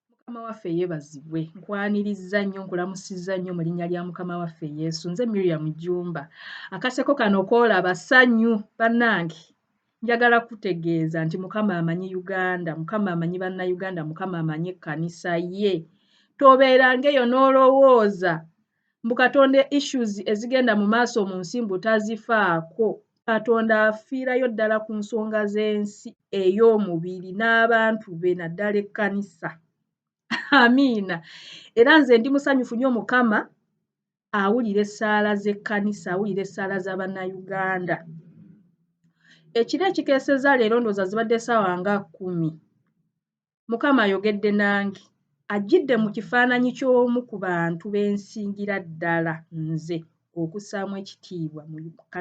mukama waffe yeebazibwe nkwanirizza nnyo nkulamusizza nnyo mu linnya lya mukama waffe yesu nze miriam jumba akaseko kano koolaba sanyu bannange njagala kutegeeza nti mukama amanyi uganda mukama amanyi bannayuganda mukama amanyi ekkanisa ye tobeerangaeyo n'olowooza mbu katonda issues ezigenda mu maaso mu nsi mbu tazifaako katonda afiirayo ddala ku nsonga z'ensi ey'omubiri n'abantu be naddala ekkanisa amiina era nze ndi musanyufu nyo mukama awulira essaala z'ekkanisa awulira essaala za bannayuganda ekiro ekikeeseza leero ndooza zibadde saawa nga kumi Mukama ayogedde nange, ajjidde mu kifaananyi ky'omu ku bantu be nsingira ddala nze okussaamu ekitiibwa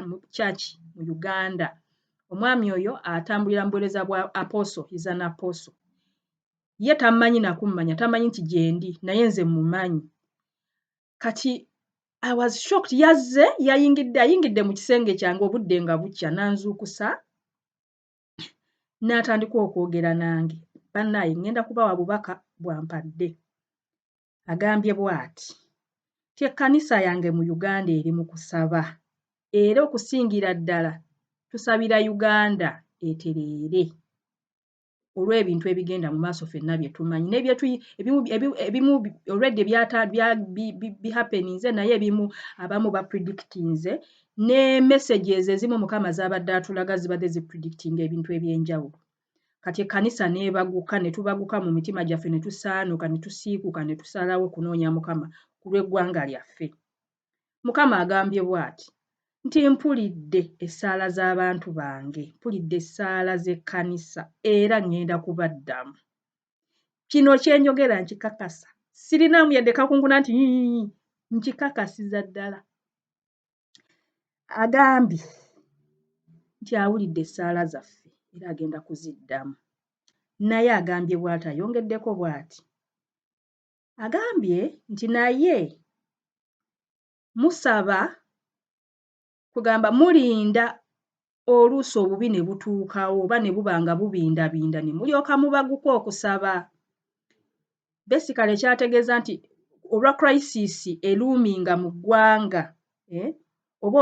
mu kyaki mu Uganda. Omwami oyo atambulira mu buweereza bwa Apostle, he is an Apostle. Ye tammanyi na kummanya, tammanyi nti gyendi, naye nze mmumanyi. Kati I was shocked, yazze yayingidde, ayingidde mu kisenge kyange obudde nga bukya n'anzuukusa n'atandika okwogera nange bannaaye ŋŋenda kubawa bubaka bwampadde agambye bw'ati nti ekkanisa yange mu uganda eri mu kusaba era okusingira ddala tusabira uganda etereere olw'ebintu ebigenda mu maaso fenna bye tumanyi nebimu olwedde bihapeninze naye ebimu abamu bapredictinze ne messages ezimu mukama zabadde atulaga zibadde zi predictinga ebintu ebyenjawulo kati ekkanisa neebaguka ne tubaguka mu mitima gyaffe ne tusaanuka ne tusiikuka ne tusalawo okunoonya mukama ku lw'eggwanga lyaffe mukama agambye bw'ati nti mpulidde essaala z'abantu bange mpulidde essaala z'ekkanisa era ŋŋenda kubaddamu kino kyenjogera nkikakasa sirinaamu yadde kakunguna nti nkikakasiza ddala agambye nti awulidde essaala zaffe era agenda kuziddamu naye agambye bwati ayongeddeko bwati agambye nti naye musaba kugamba mulinda oluusi obubi ne butuukawo oba ne buba nga bubindabinda ne mulyoka mubaguka okusaba besikale kyategeeza nti olwa crisis eluuminga mu ggwanga eh? oba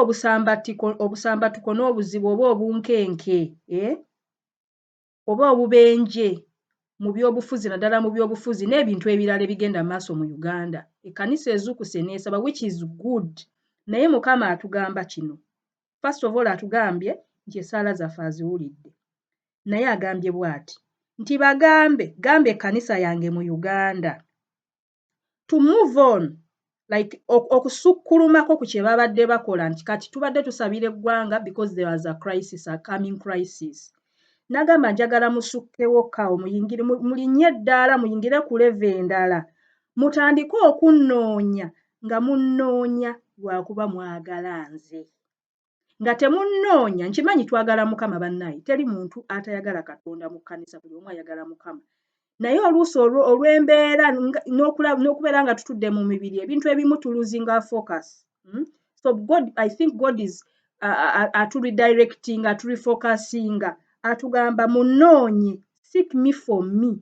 obusambattuko n'obuzibu oba obunkenke eh? oba obubenje mu byobufuzi naddala mu byobufuzi n'ebintu ebirala ebigenda mu maaso mu Uganda. Ekkanisa ezuukuse n'esaba which is good naye Mukama atugamba kino. First of all atugambye nti essaala zaffe aziwulidde naye agambye bwati nti bagambe gamba ekkanisa yange mu Uganda to move on like okusukkulumako ku kye babadde bakola nti kati tubadde tusabira eggwanga because there was a crisis a coming crisis nagamba njagala musukkewo ka omuyingire mulinye eddaala muyingire ku leve endala mutandike okunnoonya nga munnoonya lwakuba mwagala nze nga temunnoonya nkimanyi twagala mukama bannaye teri muntu atayagala katonda mu kkanisa buli omu ayagala mukama naye oluusi olw'embeera n'okubeera nga tutudde mu mibiri ebintu ebimu tuluzinga focus hmm? so god i think god is aturidirectinga aturifocusinga atugamba munoonye seek me for me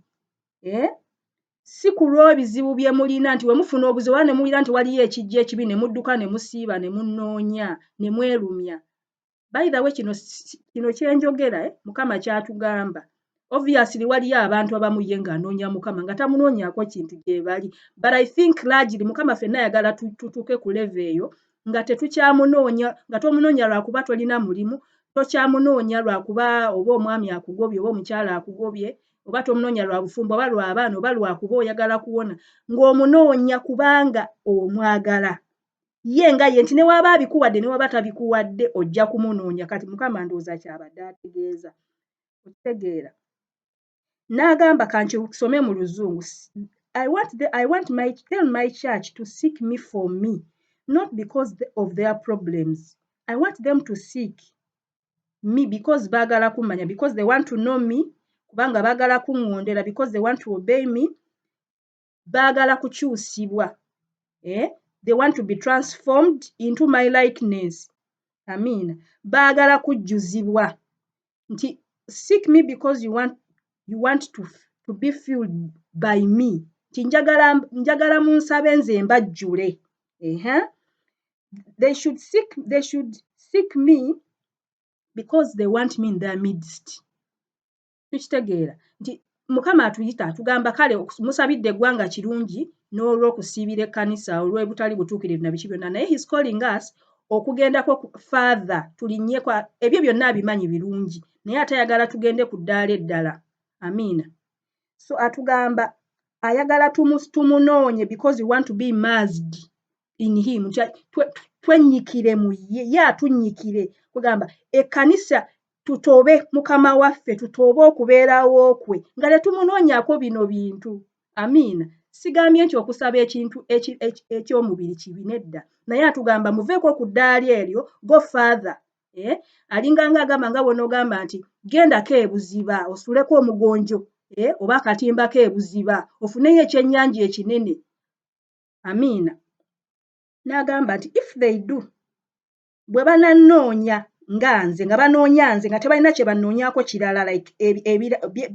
eh? si ku lw'ebizibu bye mulina nti bwe mufuna obuzibu oba ne muwulira nti waliyo ekijja ekibi ne mudduka ne musiiba ne munnoonya ne mwerumya bayidhawe kino kino kye njogera eh, mukama kyatugamba obviously waliyo abantu abamu ye ng'anoonya mukama nga tamunoonyako kintu gye bali but i think largely mukama fenna ayagala tutuuke ku leve eyo nga tetukyamunoonya nga tomunoonya lwakuba tolina mulimu tokyamunoonya lwakuba oba omwami akugobye oba omukyala akugobye oba tomunoonya lwa bufumbo oba lwa baana oba lwakuba oyagala kuwona ng'omunoonya kubanga omwagala ye nga ye nti newaba abikuwadde newaba tabikuwadde ojja kumunoonya kati mukama ndowooza kyabadde ategeeza okitegeera n'agamba kankisome mu luzungu I want, the, I want my, tell my church to seek me for me not because of their problems i want them to seek me because baagala kummanya because they want to know me kubanga baagala kuŋŋondera because they want to obey me baagala kukyusibwa eh? they want to be transformed into my likeness amiina baagala kujjuzibwa nti seek me because you want, you want to, to be filled by me nti njagala, njagala munsabe nze mbajjule ehe uh -huh. they should seek, they should seek me because they want me in their midst tukitegeera nti mukama atuyita atugamba kale musabidde eggwanga kirungi n'olw'okusiibira ekkanisa olw'ebutali butuukirivu na biki byonna naye his calling us okugendako faatha tulinyeko ebyo byonna abimanyi birungi naye ate ayagala tugende ku ddaala eddala amiina so atugamba ayagala tumunoonye because we want to be mazdi in him twenyikire mu ye ye atunyikire kugamba ekkanisa tutoobe mukama waffe tutoobe okubeerawo kwe nga tetumunoonyako bino bintu amiina sigambye nti okusaba ekintu eky'omubiri kibi nedda naye atugamba muveeko ku ddaali eryo go father eh? alinganga agamba nga bwonoogamba nti gendako ebuziba osuleko omugonjo eh? oba akatimba k'ebuziba ofuneyo ekyennyanja ekinene amiina n'agamba nti if they do bwe banannoonya nga nze nga banoonya nze nga tebalina kye bannoonyako kirala like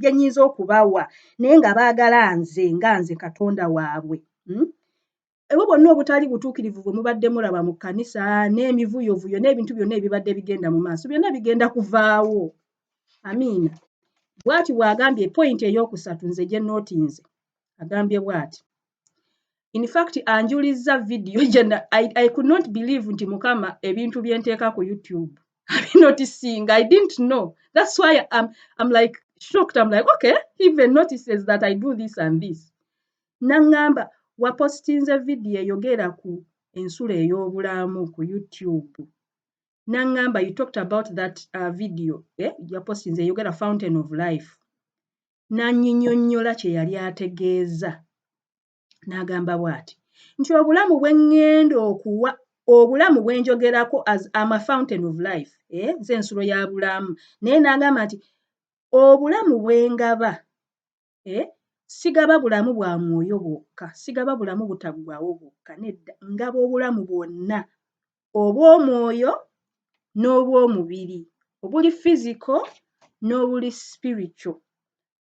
bye nnyinza okubawa naye nga baagala nze nga nze katonda waabwe hmm? ebwo bonna obutali butuukirivu bwe mubadde mulaba mu kkanisa n'emivuyovuyo n'ebintu byonna ebibadde bigenda mu maaso byonna bigenda kuvaawo amiina bwati bw'agambye pointi ey'okusatu nze gye nootinze agambye bwati infact anjulizza vidiyo jena I, i could not believe nti mukama ebintu byenteeka ku youtube abinotisinga i didn't know thats why I'm, I'm like shocked I'm like okay he even notices that i do this and this naŋŋamba wapositinze vidiyo eyogera ku ensulo ey'obulamu ku youtube naŋŋamba you talked about that uh, video eh? yapositinze eyogera fountain of life n'annyinyonnyola kye yali ategeeza n'agamba bw'ati nti obulamu bwe ŋŋenda okuwa obulamu bwe njogerako as am a fountain of life eh, nze ensulo ya bulamu naye n'agamba nti obulamu bwe ngaba eh, sigaba bulamu bwa mwoyo bwokka sigaba bulamu butaggwawo bwokka nedda ngaba obulamu bwonna obw'omwoyo n'obw'omubiri, obuli physical n'obuli spiritual.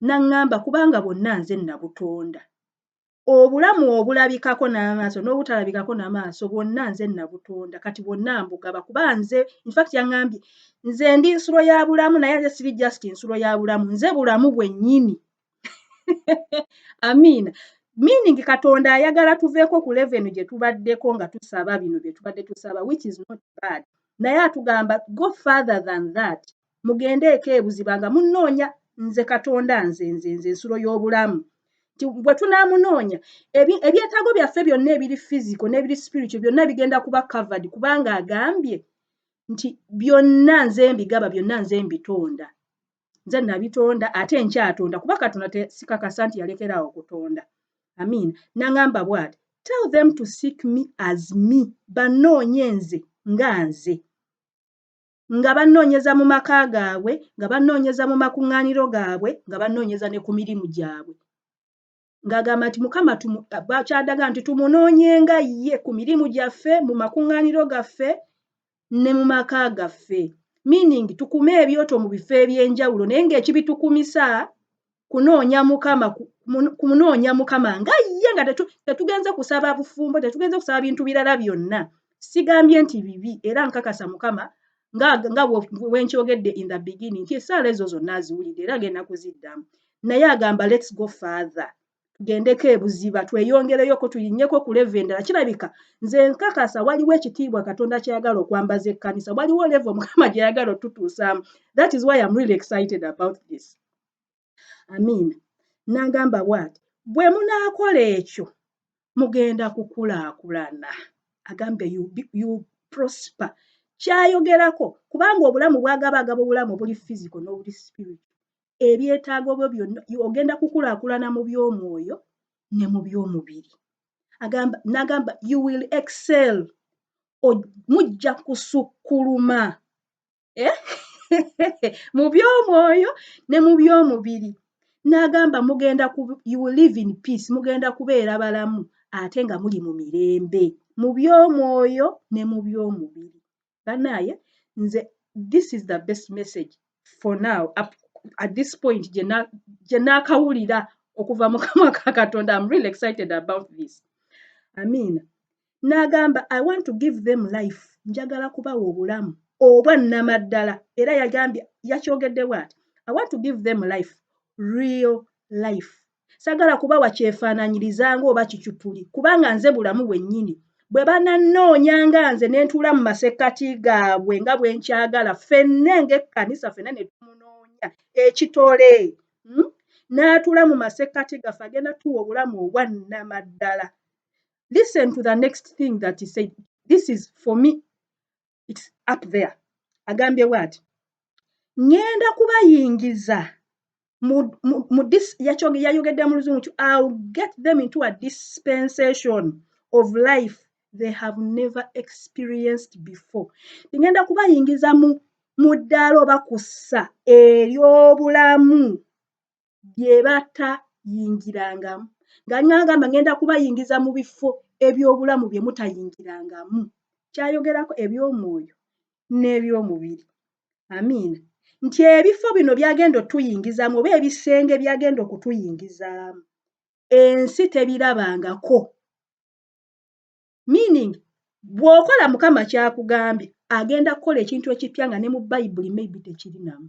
N'aŋŋamba, Kubanga bwonna nze nabutonda. Obulamu obulabikako n'amaaso n'obutalabikako na maaso, bwonna nze nabutonda. Kati bwonna mbugaba, kuba nze, in fact yaŋŋambye, nze ndi nsulo ya bulamu, naye ate siri just nsulo ya bulamu, nze bulamu bwennyini. amiina meaning katonda ayagala tuveeko ku levenu gye tubaddeko nga tusaba bino bye tubadde tusaba which is not bad naye atugamba go further than that mugende eko ebuziba nga munoonya nze katonda nze nze nze ensulo y'obulamu nti bwe tunaamunoonya ebyetaago byaffe byonna ebiri fiziko n'ebiri spiritual byonna bigenda kuba covered kubanga agambye nti byonna nze mbigaba byonna nze mbitonda nze nabitonda ate nkyatonda kuba katonda tesikakasa nti yalekeraawo okutonda amiina naŋamba bwati tell them to seek me as me banoonye nze nga nze nga banoonyeza mu maka gaabwe nga banoonyeza mu makuŋŋaaniro gaabwe nga banoonyeza ne ku mirimu gyabwe ng'agamba nti mukama kyadaga nti tumunoonyenga ye ku mirimu gyaffe mu makuŋŋaaniro gaffe ne mu maka gaffe meaning tukume ebyoto mu bifo eby'enjawulo naye ng'ekibitukumisa kunoonya mukama kunoonya mukama nga ye nga tetugenze kusaba bufumbo tetugenze kusaba bintu birala byonna sigambye nti bibi era nkakasa mukama nga nga wenkyogedde in the beginning nti esaala ezo zonna aziwulidde era agenda kuziddamu naye agamba lets go father tugendeko ebuziba tweyongereyoko tuyinyeko ku leve endala kirabika nze nkakasa waliwo ekitiibwa katonda kyayagala okwambaza ekkanisa waliwo leve omukama gyeyagala otutuusaamu that is why am really excited about this amiina n'agamba bwati bwe munaakola ekyo mugenda kukulaakulana agambe you prosper kyayogerako kubanga obulamu bwagaba agaba obulamu obuli physical n'obuli spirit ebyetaago byo byonna ogenda kukulaakulana mu by'omwoyo ne mu by'omubiri agamba n'agamba you will excel mujja kusukkuluma eh? mu by'omwoyo ne mu by'omubiri n'agamba mugenda you will live in peace mugenda kubeera balamu ate nga muli mu mirembe mu by'omwoyo ne mu by'omubiri banaaye nze this is the best message for now up at this point gye naakawulira okuva mu kamwa ka katonda am really excited about this amiina n'agamba i want to give them life njagala kubawa obulamu obwa nnamaddala era yagambye yakyogedde bwati i want to give them life real life sagala kubawa kyefaananyiriza nga oba kicupuli kubanga nze bulamu bwennyini bwe banannoonya nga nze ne ntuula mu masekkati gaabwe nga bwe nkyagala ffenne ng'ekkanisa ffenna ne tumunoonya ekitole hmm? n'atuula mu masekkati gaffe agenda tuwa obulamu obwa nnamaddala listen to the next thing that he said this is for me its up there agambye bwati ŋŋenda kubayingiza yayogedde mu luzungu ti ill get them into a dispensation of life they have never experienced before ŋŋenda kubayingiza mu ddaala oba kussa ery'obulamu byebatayingirangamu nga alinga agamba ngenda kubayingiza mu bifo ebyobulamu bye mutayingirangamu kyayogerako ebyomwoyo n'ebyomubiri amiina nti ebifo bino byagenda otuyingizaamu oba ebisenge byagenda okutuyingizaamu ensi tebirabangako meaning bw'okola mukama kyakugambye agenda kukola ekintu ekippya nga ne mu bayibuli maybe tekirinamu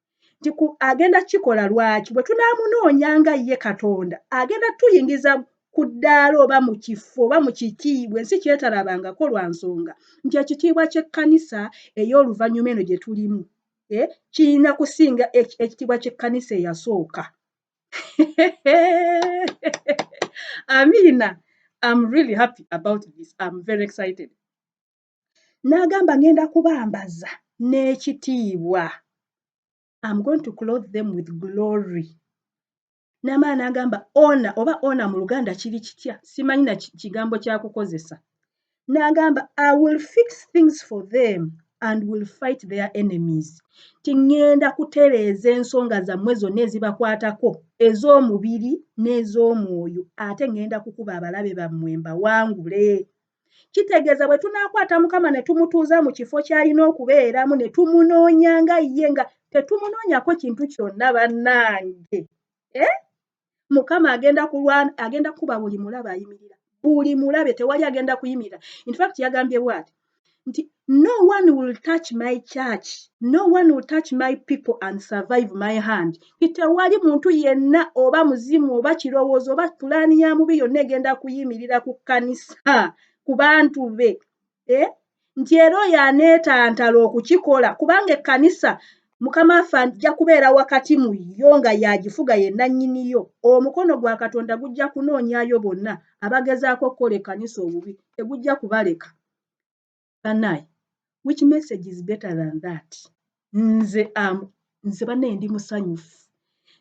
nti agenda kukikola lwaki bwe tunaamunoonya nga ye katonda agenda tuyingiza ku ddaala oba mu kifo oba mu kitiibwa ensi kyetalabangako lwa nsonga nti ekitiibwa ky'ekkanisa ey'oluvannyuma eno gye tulimu eh, kirina kusinga ekitiibwa ky'ekkanisa eyasooka amiina am really happy about this am very excited n'agamba ngenda kubambaza n'ekitiibwa am going to clothe them with glory namaa n'agamba ona oba ona mu luganda kiri kitya simanyi na kigambo kyakukozesa n'agamba i will fix things for them and will fight their enemies ti ŋŋenda kutereeza ensonga zammwe zonna ezibakwatako ez'omubiri n'ez'omwoyo ate ŋŋenda kukuba abalabe bammwe mbawangule kitegeeza bwe tunaakwata mukama ne tumutuuza mu kifo ky'alina okubeeramu ne tumunoonya nga ye nga tetumunoonyako kintu kyonna bannange eh? mukama agenda kulwana agenda kuba buli mulabe ayimirira buli mulabe tewali agenda kuyimirira infact yagambye bwati nti no one will touch my church no one will touch my people and survive my hand tewali muntu yenna oba muzimu oba kirowoozo oba pulaani ya mubi yonna egenda kuyimirira ku kkanisa ku bantu be eh? nti era oyo aneetantala okukikola kubanga ekkanisa mukama affe ajja kubeera wakati mu yo nga yagifuga yennannyiniyo omukono gwa katonda gujja kunoonyayo bonna abagezaako okukola ekkanisa obubi tegujja kubaleka banaye which message is better than that nze am nze banaye ndi musanyufu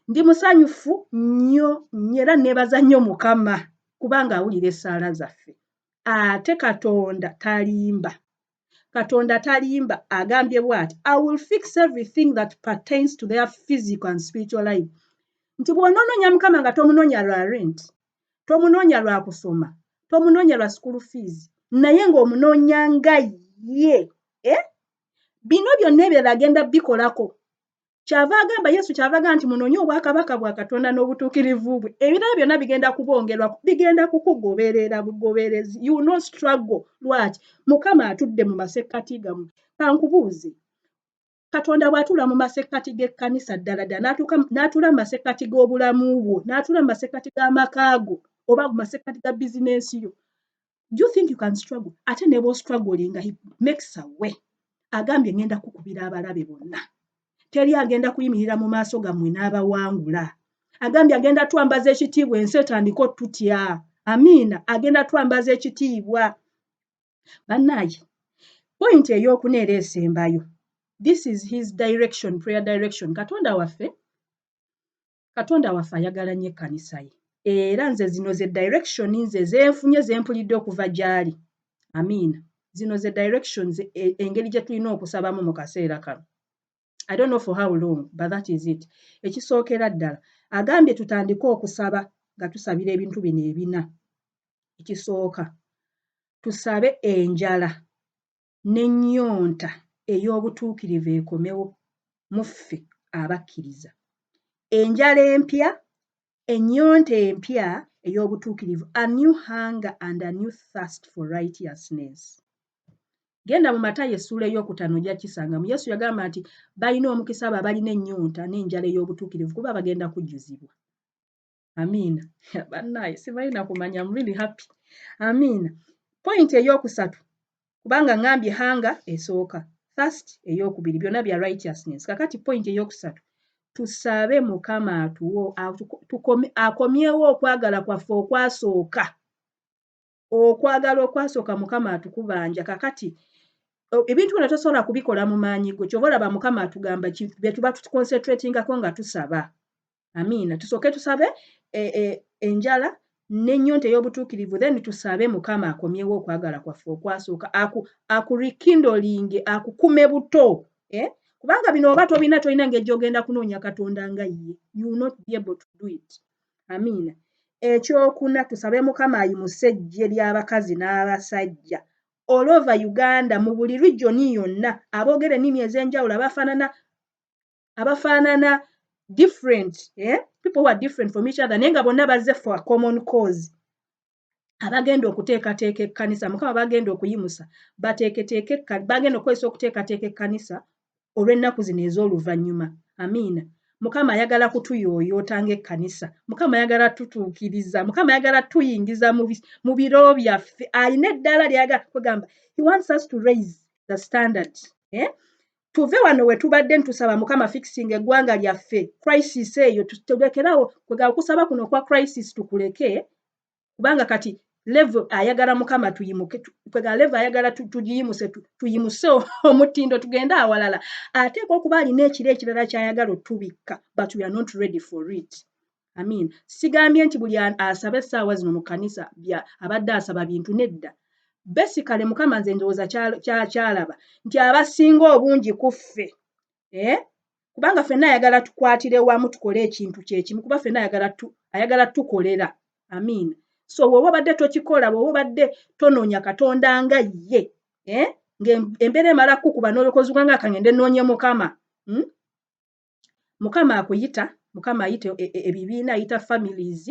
ndi musanyufu nnyo nnyo era nebaza nnyo mukama kubanga awulira esaala zaffe ate katonda talimba katonda talimba agambye bwati i will fix everything that pertains to their physical and spiritual life nti bwonoononya mukama nga tomunoonya lwa rent tomunoonya lwa kusoma tomunoonya lwa school fees naye ng'omunoonya nga ye eh? bino byonna ebirala agenda bikolako kyava agamba yesu kyava agamba nti munoonye obwakabaka bwa katonda n'obutuukirivu bwe ebirala byonna bigenda kubongerwa bigenda kukugoberera bugoberezi you no struggle lwaki mukama atudde mu masekkati gamu kankubuuze katonda bw'atuula mu masekkati g'ekkanisa ddala ddala n'atuula mu masekkati g'obulamu bwo n'atuula mu masekkati g'amaka go oba mu masekkati ga bizinensi yo do you think you can struggle ate ne bw'ostrugglinga he makes a way agambye ngenda kukubira abalabe bonna teri agenda kuyimirira mu maaso gammwe n'abawangula agambye agenda twambaza ekitiibwa ensi etandika otutya amiina agenda twambaza ekitiibwa bannaaye point eyokuna era esembayo this is his direction prayer direction katonda waffe katonda waffe ayagala nnyo ekkanisa ye era nze zino ze direction nze zenfunye zempulidde okuva gyali amiina zino ze directions e, engeri gye tulina okusabamu mu kaseera kano I don't know for how long but that is it ekisookera ddala agambye tutandike okusaba nga tusabira ebintu bino ebina ekisooka tusabe enjala n'ennyonta ey'obutuukirivu ekomewo muffe abakkiriza enjala empya ennyonta empya ey'obutuukirivu a new hunger and a new thirst for righteousness genda mu matayo essuula ey'okutano ojja kisangamu yesu yagamba nti balina omukisa abo abalina ennyonta n'enjala ey'obutuukirivu kuba bagenda kujjuzibwa amiina bannaye sibalina kumanya mrili happy amiina pointi ey'okusatu kubanga ngambye hanga esooka first eyokubiri byona bya righteousness kakati point eyokusatu tusabe mukama atuwo akomyewo okwagala kwaffe okwasooka okwagala okwasooka mukama atukubanja kakati ebintu byona tosobola kubikola mu maanyi go kyoba olaba mukama atugamba byetuba tuconcentratingako nga tusaba amiina tusooke tusabe e, e, enjala nenyonta ey'obutuukirivu then tusabe mukama akomyewo okwagala kwaffe okwasooka aku, aku rekindolinge akukume buto eh? kubanga bino oba tobina tolina ngeri gyogenda kunoonya katonda nga ye you will not be able to do it amiina ekyokuna tusabe mukama ayimuse ejje ly'abakazi n'abasajja all over uganda mu buli regioni yonna aboogera ennimi ez'enjawulo abafaanana abafaanana different eh? people who are different from each other naye nga bonna bazze for a common cause abagenda okuteekateeka ekkanisa mukama bagenda okuyimusa bateeketeeke bagenda okukozesa okuteekateeka ekkanisa olw'ennaku zino ez'oluvannyuma amiina mukama ayagala kutuyooyoota ng'ekkanisa mukama ayagala tutuukiriza mukama ayagala tuyingiza mu biro byaffe alina eddaala lyayagala kwegamba he wants us to raise the standard eh? tuve wano wetubadde ntusaba mukama fixing eggwanga lyaffe crisis eyo tutegekerawo kwega okusaba kuno okwa crisis tukuleke kubanga kati levo ayagala mukama tuyimuke kwega levo ayagala tugiyimuse tuyimuse omutindo tugende awalala ateeka okuba alina ekiro ekirala kyayagala otubikka but we are not ready for it amiina sigambye nti buli asaba essaawa zino mu kkanisa bya abadde asaba bintu nedda besikale mukama nze ndowooza kyakyalaba nti abasinga obungi ku ffe eh? kubanga fenna ayagala tukwatire wamu tukole ekintu kyekimu kuba fenna ayagala tukolera amiina so woba obadde tokikola woba obadde tonoonya katonda nga ye eh? ngaembeera emala kukuba nolokozi gwanga kangende noonye mukama hmm? mukama akuyita mukama ayita e, e, ebibiina ayita families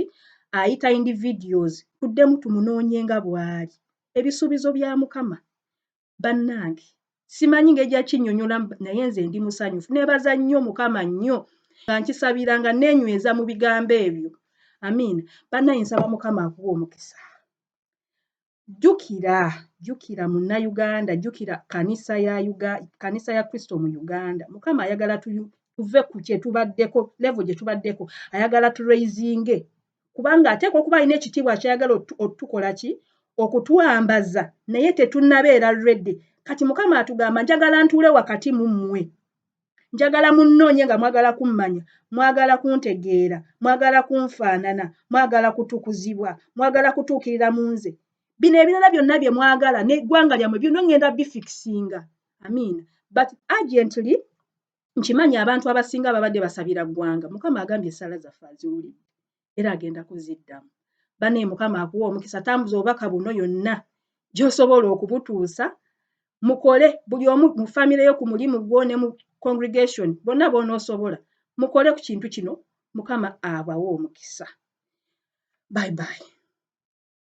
ayita individuals tuddemu tumunoonye nga bwali ebisuubizo bya mukama bannange simanyi ngeri gyakinyonyola naye nze ndi musanyufu nebaza nnyo mukama nnyo nga nkisabira nga nenyweza mu bigambo ebyo amiina bannange nsaba mukama akuwa omukisa jjukira jjukira munnayuganda jjukira kanisa ya uga kanisa ya kristo mu uganda mukama ayagala tuve ku kyetubaddeko levo gye tubaddeko ayagala turaisinge kubanga ateekwa okuba alina ekitiibwa kyayagala otukola ki okutwambaza naye tetunabeera redi kati mukama atugamba njagala ntuule wakati mu mmwe njagala munnoonye nga mwagala kummanya mwagala kuntegeera mwagala kunfaanana mwagala kutukuzibwa mwagala kutuukirira mu nze bino ebirala byonna bye mwagala n'eggwanga lyammwe byonna ŋŋenda bifikisinga amiina but agently nkimanyi abantu abasinga babadde basabira ggwanga mukama agambye esaala zaffe aziwulidde era agenda kuziddamu bane mukama akuwa omukisa tambuza obubaka buno yonna gyosobola okubutuusa mukole buli omu mu famire yo ku mulimu gwo ne mu congregation bonna bonaosobola mukole ku kintu kino mukama abawe omukisa bye bye